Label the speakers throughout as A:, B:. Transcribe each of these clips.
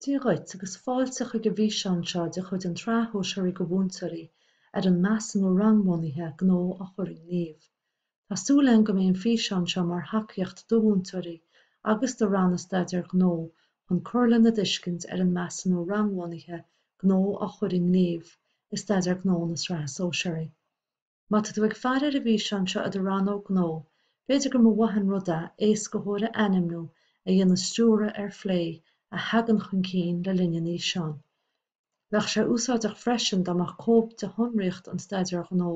A: Dia dhuit agus fáilte chuig an bhfíseán seo de chuid an tSraith Shóisearaigh do Mhúinteoirí ar an Measúnú Rangbhunaithe, Gnó a chur i ngníomh. Tá súil agam go mbeidh an físeán seo mar thacaíocht do mhúinteoirí agus do Ranna Staidéar Gnó chun cur lena dtuiscint ar an Measúnú Rangbhunaithe, Gnó a chur i ngníomh, i Staidéar Gnó na Sraithe Sóisearaí. Má tá tú ag faire ar an bhfíseán seo i do rannóg gnó, b'fhéidir go mba mhaith an rud é éascaitheoir a ainmniú a dhéanann stiúradh ar phlé a thagann chun cinn le linn an fhíseáin. Bheadh sé úsáideach freisin dá mbeadh cóip de shonraíocht an Staidéir Ghnó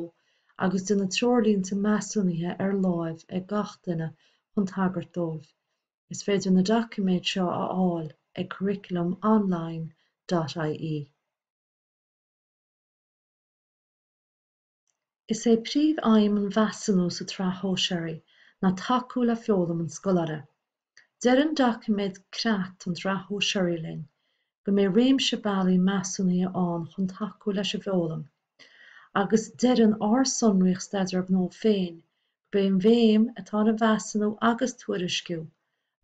A: agus de na Treoirlínte Measúnaithe ar láimh ag gach duine chun tagairt dóibh. Is féidir na doiciméid seo a fháil ag curriculumonline.ie. Is é príomhaidhm an mheasúnú sa tsraith shóisearaí ná tacú le foghlaim an scoláire. Deir an doiciméad creat don tsraith shóisearaí linn go mbeidh réimse bealaí measúnaithe ann chun tacú leis an bhfoghlaim agus deireann ár sonraíocht staidéir gnó féin gurb é an bhéim atá ar an mheasúnú agus tuairisciú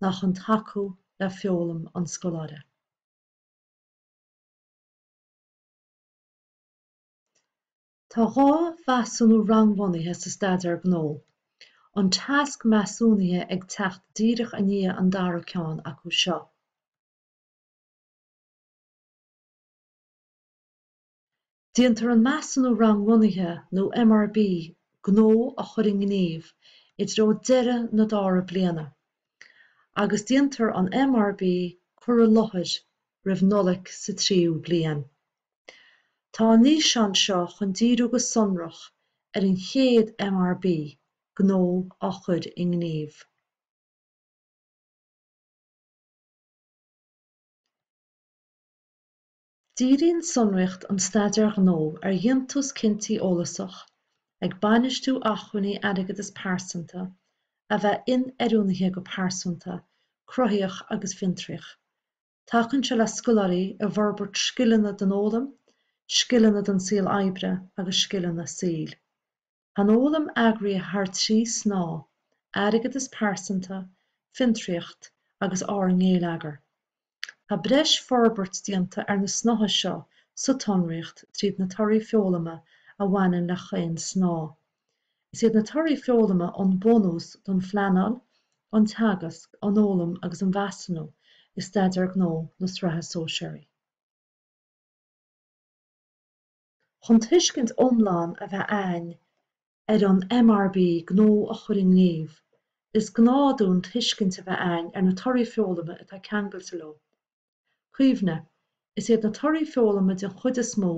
A: ná chun tacú le foghlaim an scoláire. Tá dhá mheasúnú rangbhunaithe sa Staidéar Gnó, an Tasc Measúnaithe ag teacht díreach i ndiaidh an dara ceann acu seo. Déantar an Measúnú Rangbhunaithe nó MRB Gnó a chur i ngníomh i dtreo deireadh na dara bliana, agus déantar an MRB Cur i Láthair roimh Nollaig sa tríú bliain. Tá an fhíseán seo chun díriú go sonrach ar an chéad MRB, Gnó a chur i nGníomh. Díríonn sonraíocht an Staidéir Ghnó ar dhéantús cinntí eolasach, ag bainistiú acmhainní airgeadas pearsanta, a bheith inoiriúnaithe go pearsanta, cruthaíoch agus fiontraíoch. Tacaíonn sé le scoláirí i bhforbairt scileanna don fhoghlaim, scileanna don saol oibre agus scileanna saoil. Tá an fhoghlaim eagraithe thar trí snáth, airgeadas pearsanta, fiontraíocht agus ár ngeilleagar. Tá breis forbairt déanta ar na snáithe seo sa tsonraíocht tríd na torthaí foghlama a bhaineann le chaon snáth. Is iad na torthaí foghlama an bunús don phleanáil, an teagasc, an fhoghlaim agus an mheasúnú i Staidéar Gnó na Sraithe Sóisearaí. Chun tuiscint iomlán a bheith a'ainn ar an MRB Gnó a chur i ngníomh, is gá dúinn tuiscint a bheith a'ainn ar na torthaí foghlama atá ceangailte leo. Cuimhnigh, is iad na torthaí foghlama den chuid is mó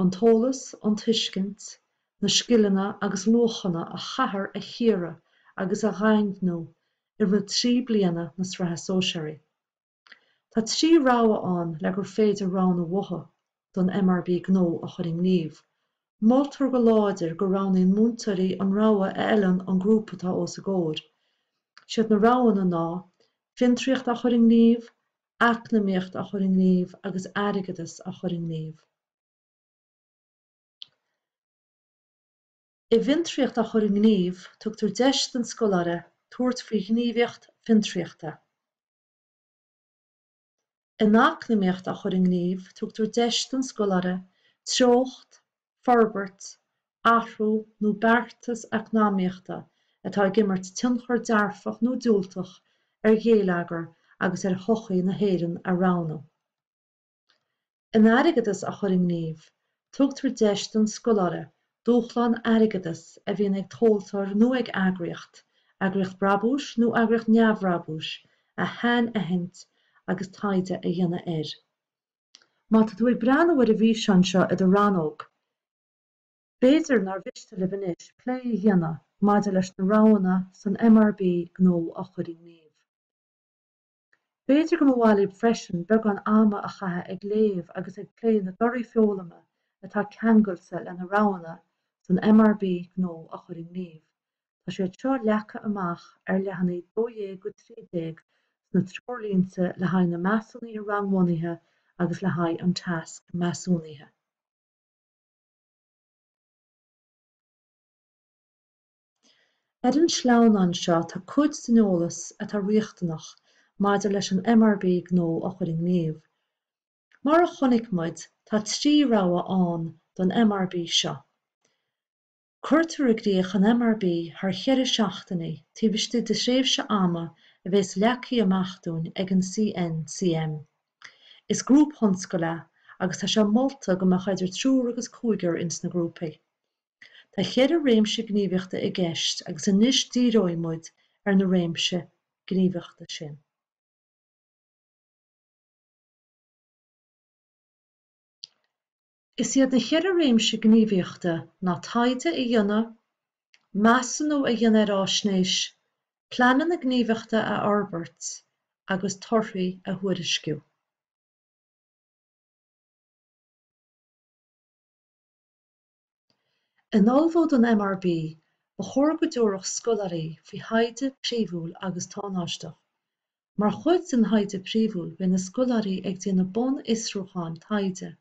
A: an t-eolas, an tuiscint, na scileanna agus luachanna a chaithear a chíoradh agus a dhaingniú i rith trí bliana na Sraithe Sóisearaí. Tá trí rogha ann le gur féidir roghnú uathu. don MRB gnó a chur i ngníomh. Moltar go láidir go roghnaíonn múinteoirí an rogha a fheileann don ghrúpa atá os a gcomhair. Is iad na roghanna ná, Fiontraíocht a chur i ngníomh, Eacnamaíocht a chur i ngníomh agus Airgeadas a chur i ngníomh. I bhFiontraíocht a chur i ngníomh tugtar deis don scoláire tabhairt faoi ghníomhaíocht fiontraíochta. in eacnamaíocht a chur i ngníomh, tugtar deis don scoláire treocht, forbairt, athrú nó beartas eacnamaíochta atá ag imirt tionchar dearfach nó diúltach ar gheilleagar agus ar shochaí na hÉireann a roghnú. in airgeadas a chur i ngníomh, tugtar deis don scoláire dúshlán airgeadais a bhíonn ag tomhaltóir nó ag eagraíocht, eagraíocht brabúis nó eagraíocht neamhbhrabúis, a shainaithint agus taighde a dhéanamh air. Má tá tú ag breathnú ar an bhfíseán seo i do rannóg, b'fhéidir nár mhiste libh anois plé a dhéanamh maidir leis na roghanna san MRB gnó a chur i ngníomh. B'fhéidir go mba mhaith libh freisin beagán ama a chaitheamh ag léamh agus ag plé na dtorthaí foghlama atá ceangailte leis na roghanna san MRB Gnó a chur i ngníomh. Tá siad seo leagtha amach ar leathanaigh 12-13 sna treoirlínte le haghaidh na measúnuithe rangbhunaithe agus le haghaidh an tasc measúnaithe. Ar an sleamhnán seo tá cuid den eolas atá riachtanach maidir leis an MRB gnó a chur i ngníomh. Mar a chonaic muid tá trí rogha ann don MRB seo. Cuirtear i gcrích an MRB thar cheithre seachtainí taobh istigh de thréimhse ama a bhéas leagtha amach dúinn ag an CNCM. Is grúpthionscadal é agus tá sé molta go mbeadh eidir triúr agus cúigear ins na grúpaí. Tá cheithre réimse gníomhaíochta i gceist agus anois díreoidh muid ar na réimsí gníomhaíochta sin. Is iad na cheithre réimse gníomhaíochta ná taighde a dhéanamh, measúnú a dhéanamh ar fhaisnéis, pleananna gníomhaíochta a fhorbairt agus torthaí a thuairisciú. In ullmhú don MRB, ba chóir go dtabharfadh scoláirí faoi thaighde príomhúil agus tánáisteach. Mar chuid den thaighde príomhúil beidh na scoláirí ag déanamh bunfhiosrúcháin taighde,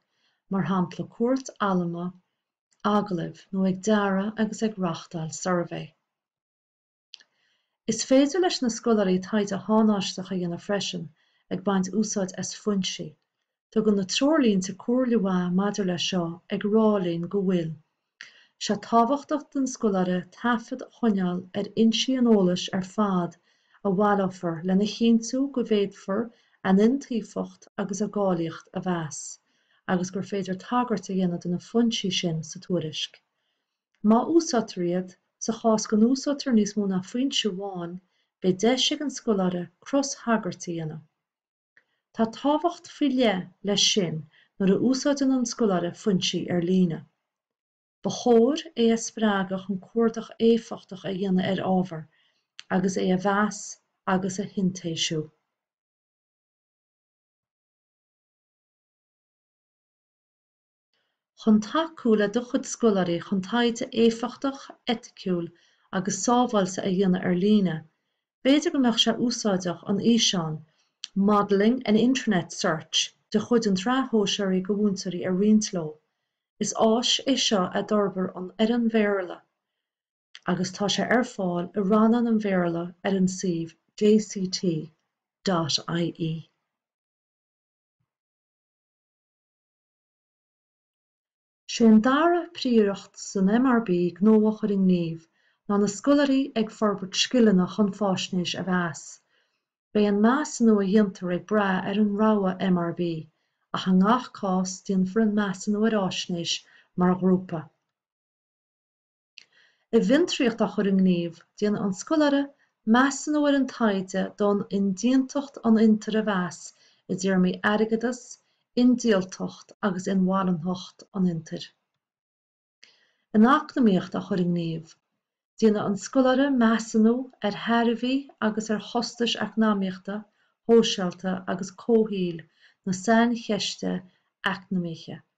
A: mar shampla cuairt allamuigh, agallaimh, nó ag dearadh agus ag reáchtáil suirbhé. Is féidir leis na scoláirí taighde tánaisteach a dhéanamh freisin ag baint úsáid as foinsí. Tugann na treoirlínte comhairle mhaith maidir leis seo ag rá linn go bhfuil sé tábhachtach don scoláire taifead a choinneáil ar fhoinsí an eolais ar fad a bhaileofar lena chinntiú go bhféadfar a n-iontaofacht agus a gcáilíocht a mheas agus gur féidir tagairt a dhéanamh do na foinsí sin sa tuairisc. Má úsáidtear iad, sa chás go n-úsáidtear níos mó ná foinse amháin, beidh deis ag an scoláire crostagairt a dhéanamh. Tá tábhacht faoi leith leis sin nuair a úsáideann an scoláire foinsí ar líne. Ba chóir é a spreagadh chun cuardach éifeachtach a dhéanamh ar ábhar agus é a mheas agus a shintéisiú. Chun tacú le do chuid scoláirí chun taighde éifeachtach, eiticiúil agus sábháilte a dhéanamh ar líne, b'fhéidir go mbeadh sé úsáideach an físeán 'Modelling an Internet Search' de chuid an tSraith Shóisearach do Mhúinteoirí a roinnt leo. Is áis é seo a d'fhorbair an fhoireann Bhéarla agus tá sé ar fáil i rannán an Bhéarla ar an suíomh jct.ie. Sé an dara príoracht san MRB gnó á chur i ngníomh ná na scoláirí ag forbairt scileanna chun faisnéis a mheas. Beidh an measúnú a dhéantar ag brath ar an rogha MRB, ach i ngach cás déanfar an measúnú ar fhaisnéis mar ghrúpa. I bhfiontraíocht á chur i ngníomh, déanfaidh an scoláire measúnú ar an taighde d'fhonn indéantacht an fhiontair a mheas i dtéarmaí airgeadas, indíoltacht agus inmharanthacht an fhiontair. In eacnamaíocht á chur i ngníomh, déanfaidh an scoláire measúnú ar thairbhí agus ar chostais eacnamaíochta, shóisialta agus comhshaoil na saincheiste eacnamaíche.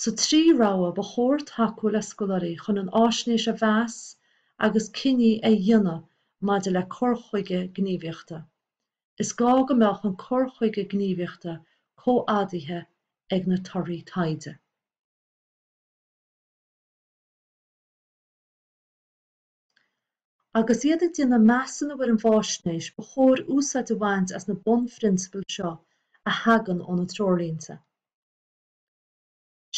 A: Sa trí rogha ba chóir tacú le scoláirí chun an fháisnéis a mheas agus cinní a dhéanamh maidir le cur chuige gníomhaíochta. Is gá go mbeadh an cur chuige gníomhaíochta comhfhadaithe ag na torthaí taighde. Agus iad ag déanamh measúnú ar an bhfáisnéis ba chóir úsáid a bhaint as na bunphrionsabail seo a thagann ó na Treoirlínte.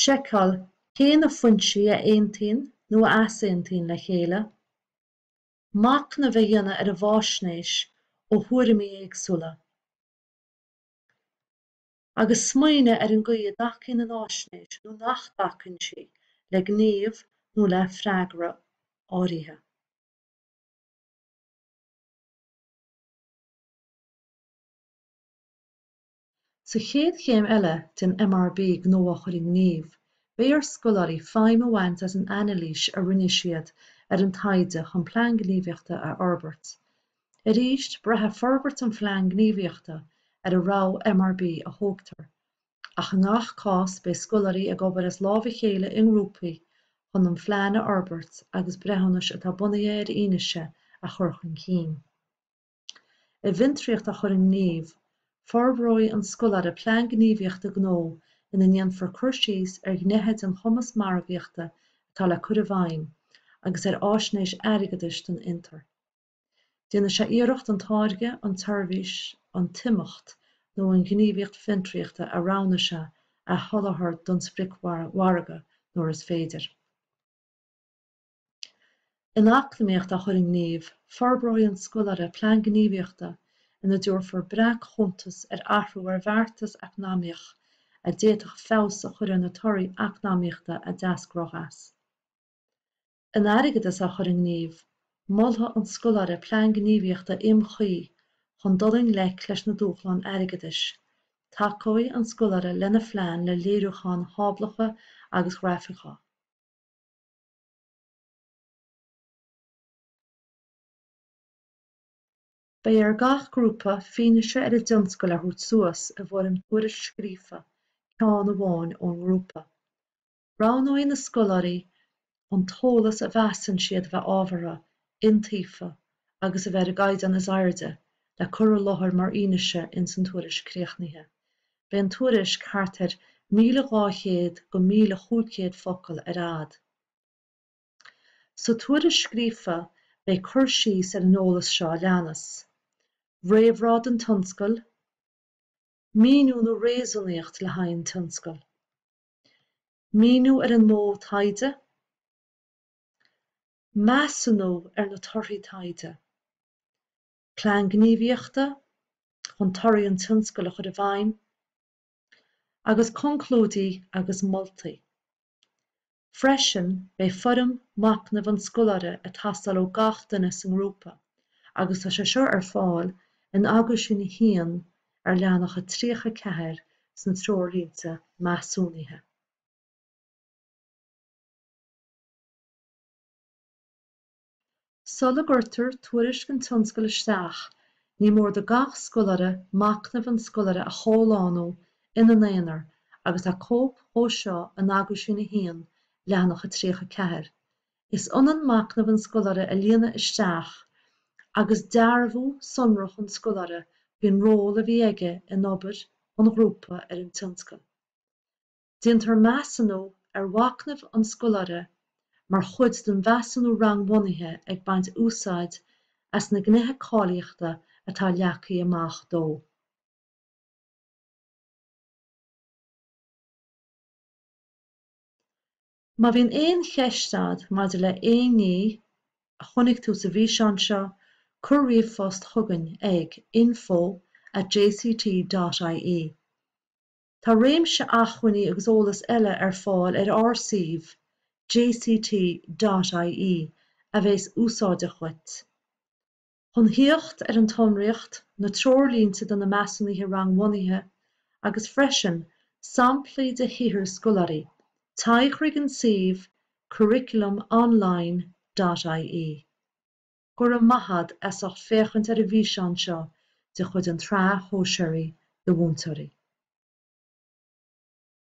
A: Seiceáil cé na foinsí a aontaíonn nó a easaontaíonn le chéile. Machnamh a dhéanamh ar an bhfáisnéis ó thuairimí éagsúla, agus smaoineadh ar an gcaoi a dtacaíonn an fháisnéis nó nach dtacaíonn sí le gníomh nó le freagra áirithe. Sa chéad chéim eile den MRB Gnó a Chur i nGníomh, beidh ar scoláirí feidhm a bhaint as an anailís a rinne siad ar an taighde chun Plean Gníomhaíochta a fhorbairt. Arís, braithfidh forbairt an Phlean Gníomhaíochta ar an rogha MRB a thógtar, ach i ngach cás beidh scoláirí ag obair as lámh a chéile i ngrúpaí chun an plean a fhorbairt agus breithiúnais atá bunaithe ar fhianaise a chur chun cinn. I bhFiontraíocht a chur i ngníomh, forbróidh an scoláire plean gníomhaíochta gnó ina ndéanfar cur síos ar ghnéithe den chumasc margaíochta atá le cur i bhfeidhm agus ar fháisnéis airgeadais don fhiontar. Déanfaidh sé iarracht an táirge, an tseirbhís, an t-imeacht nó an ghníomhaíocht fiontraíochta a roghnaigh sé a sholáthar don spriocmhargadh nuair is féidir. In Eacnamaíocht a Chur i nGníomh, forbróidh an scoláire plean gníomhaíochta ina dtabharfar breac-chuntas ar athrú ar bheartas eacnamaíoch a d'fhéadfadh feabhas a chur ar na torthaí eacnamaíochta a d'eascródh as. In Airgeadas a Chur i nGníomh, molfaidh an scoláire plean gníomhaíochta iomchuí chun dul i ngleic leis na dúshláin airgeadais. Tacóidh an scoláire lena phlean le léiriúcháin tháblacha agus ghrafacha. Beidh ar gach grúpa fianaise ar a dtionscadal a thabhairt suas i bhfoirm tuairisc scríofa, ceann amháin ón ngrúpa. Roghnóidh na scoláirí an t-eolas a mheasann siad a bheith ábhartha, iontaofa agus a bheith ar an gcaighdeán is airde le cur i láthair mar fhianaise ins an tuairisc chríochnaithe. beidh an tuairisc thart ar 1,200-1,500 focal ar fhad. Sa tuairisc scríofa beidh cur síos ar an eolas seo a leanas, réamhrá don tionscadal, míniú nó réasúnaíocht le haghaidh an tionscadail, míniú ar an modh taighde, measúnú ar na torthaí taighde, Plean Gníomhaíochta chun torthaí an tionscadail a chur i bhfeidhm, agus conclúidí agus moltaí. Freisin beidh foirm machnaimh an scoláire ag teastáil ó gach duine sa ngrúpa, agus tá sé seo ar fáil in Aguisín 1 ar leathanach a 34 sna Treoirlínte Measúnaithe. Sula gcuirtear tuairisc an tionscadail isteach, ní mór do gach scoláire machnamh an scoláire a chomhlánú ina n-aonar agus tá cóip dhó seo in Aguisín 1, leathanach a 34. Is ionann machnamh an scoláire a líonadh isteach agus dearbhú sonrach an scoláire faoin ról a bhí aige in obair an ghrúpa ar an tionscadal. Déantar measúnú ar mhachnamh an scoláire mar chuid den mheasúnú rangbhunaithe ag baint úsáid as na Gnéithe Cáilíochta atá leagtha amach dó. Má bhíonn aon cheist 'ad maidir le haon ní a chonaic tú sa bhfíseán seo, cuir ríomhphost chugainn ag info at jct dot ie. Tá réimse achmhainní agus eolas eile ar fáil ar ár suíomh, jct. ie, a bheas úsáideach dhuit. Chun thíocht ar an tsonraíocht, na treoirlínte do na measúnuithe rangbhunaithe, agus freisin samplaí de shaothair scoláirí, téigh chuig an suíomh, curriculum-online.ie. Go raibh maith 'ad as ucht féachaint ar an bhfíseán seo de chuid an tSraith Shóisearaigh do Mhúinteoirí.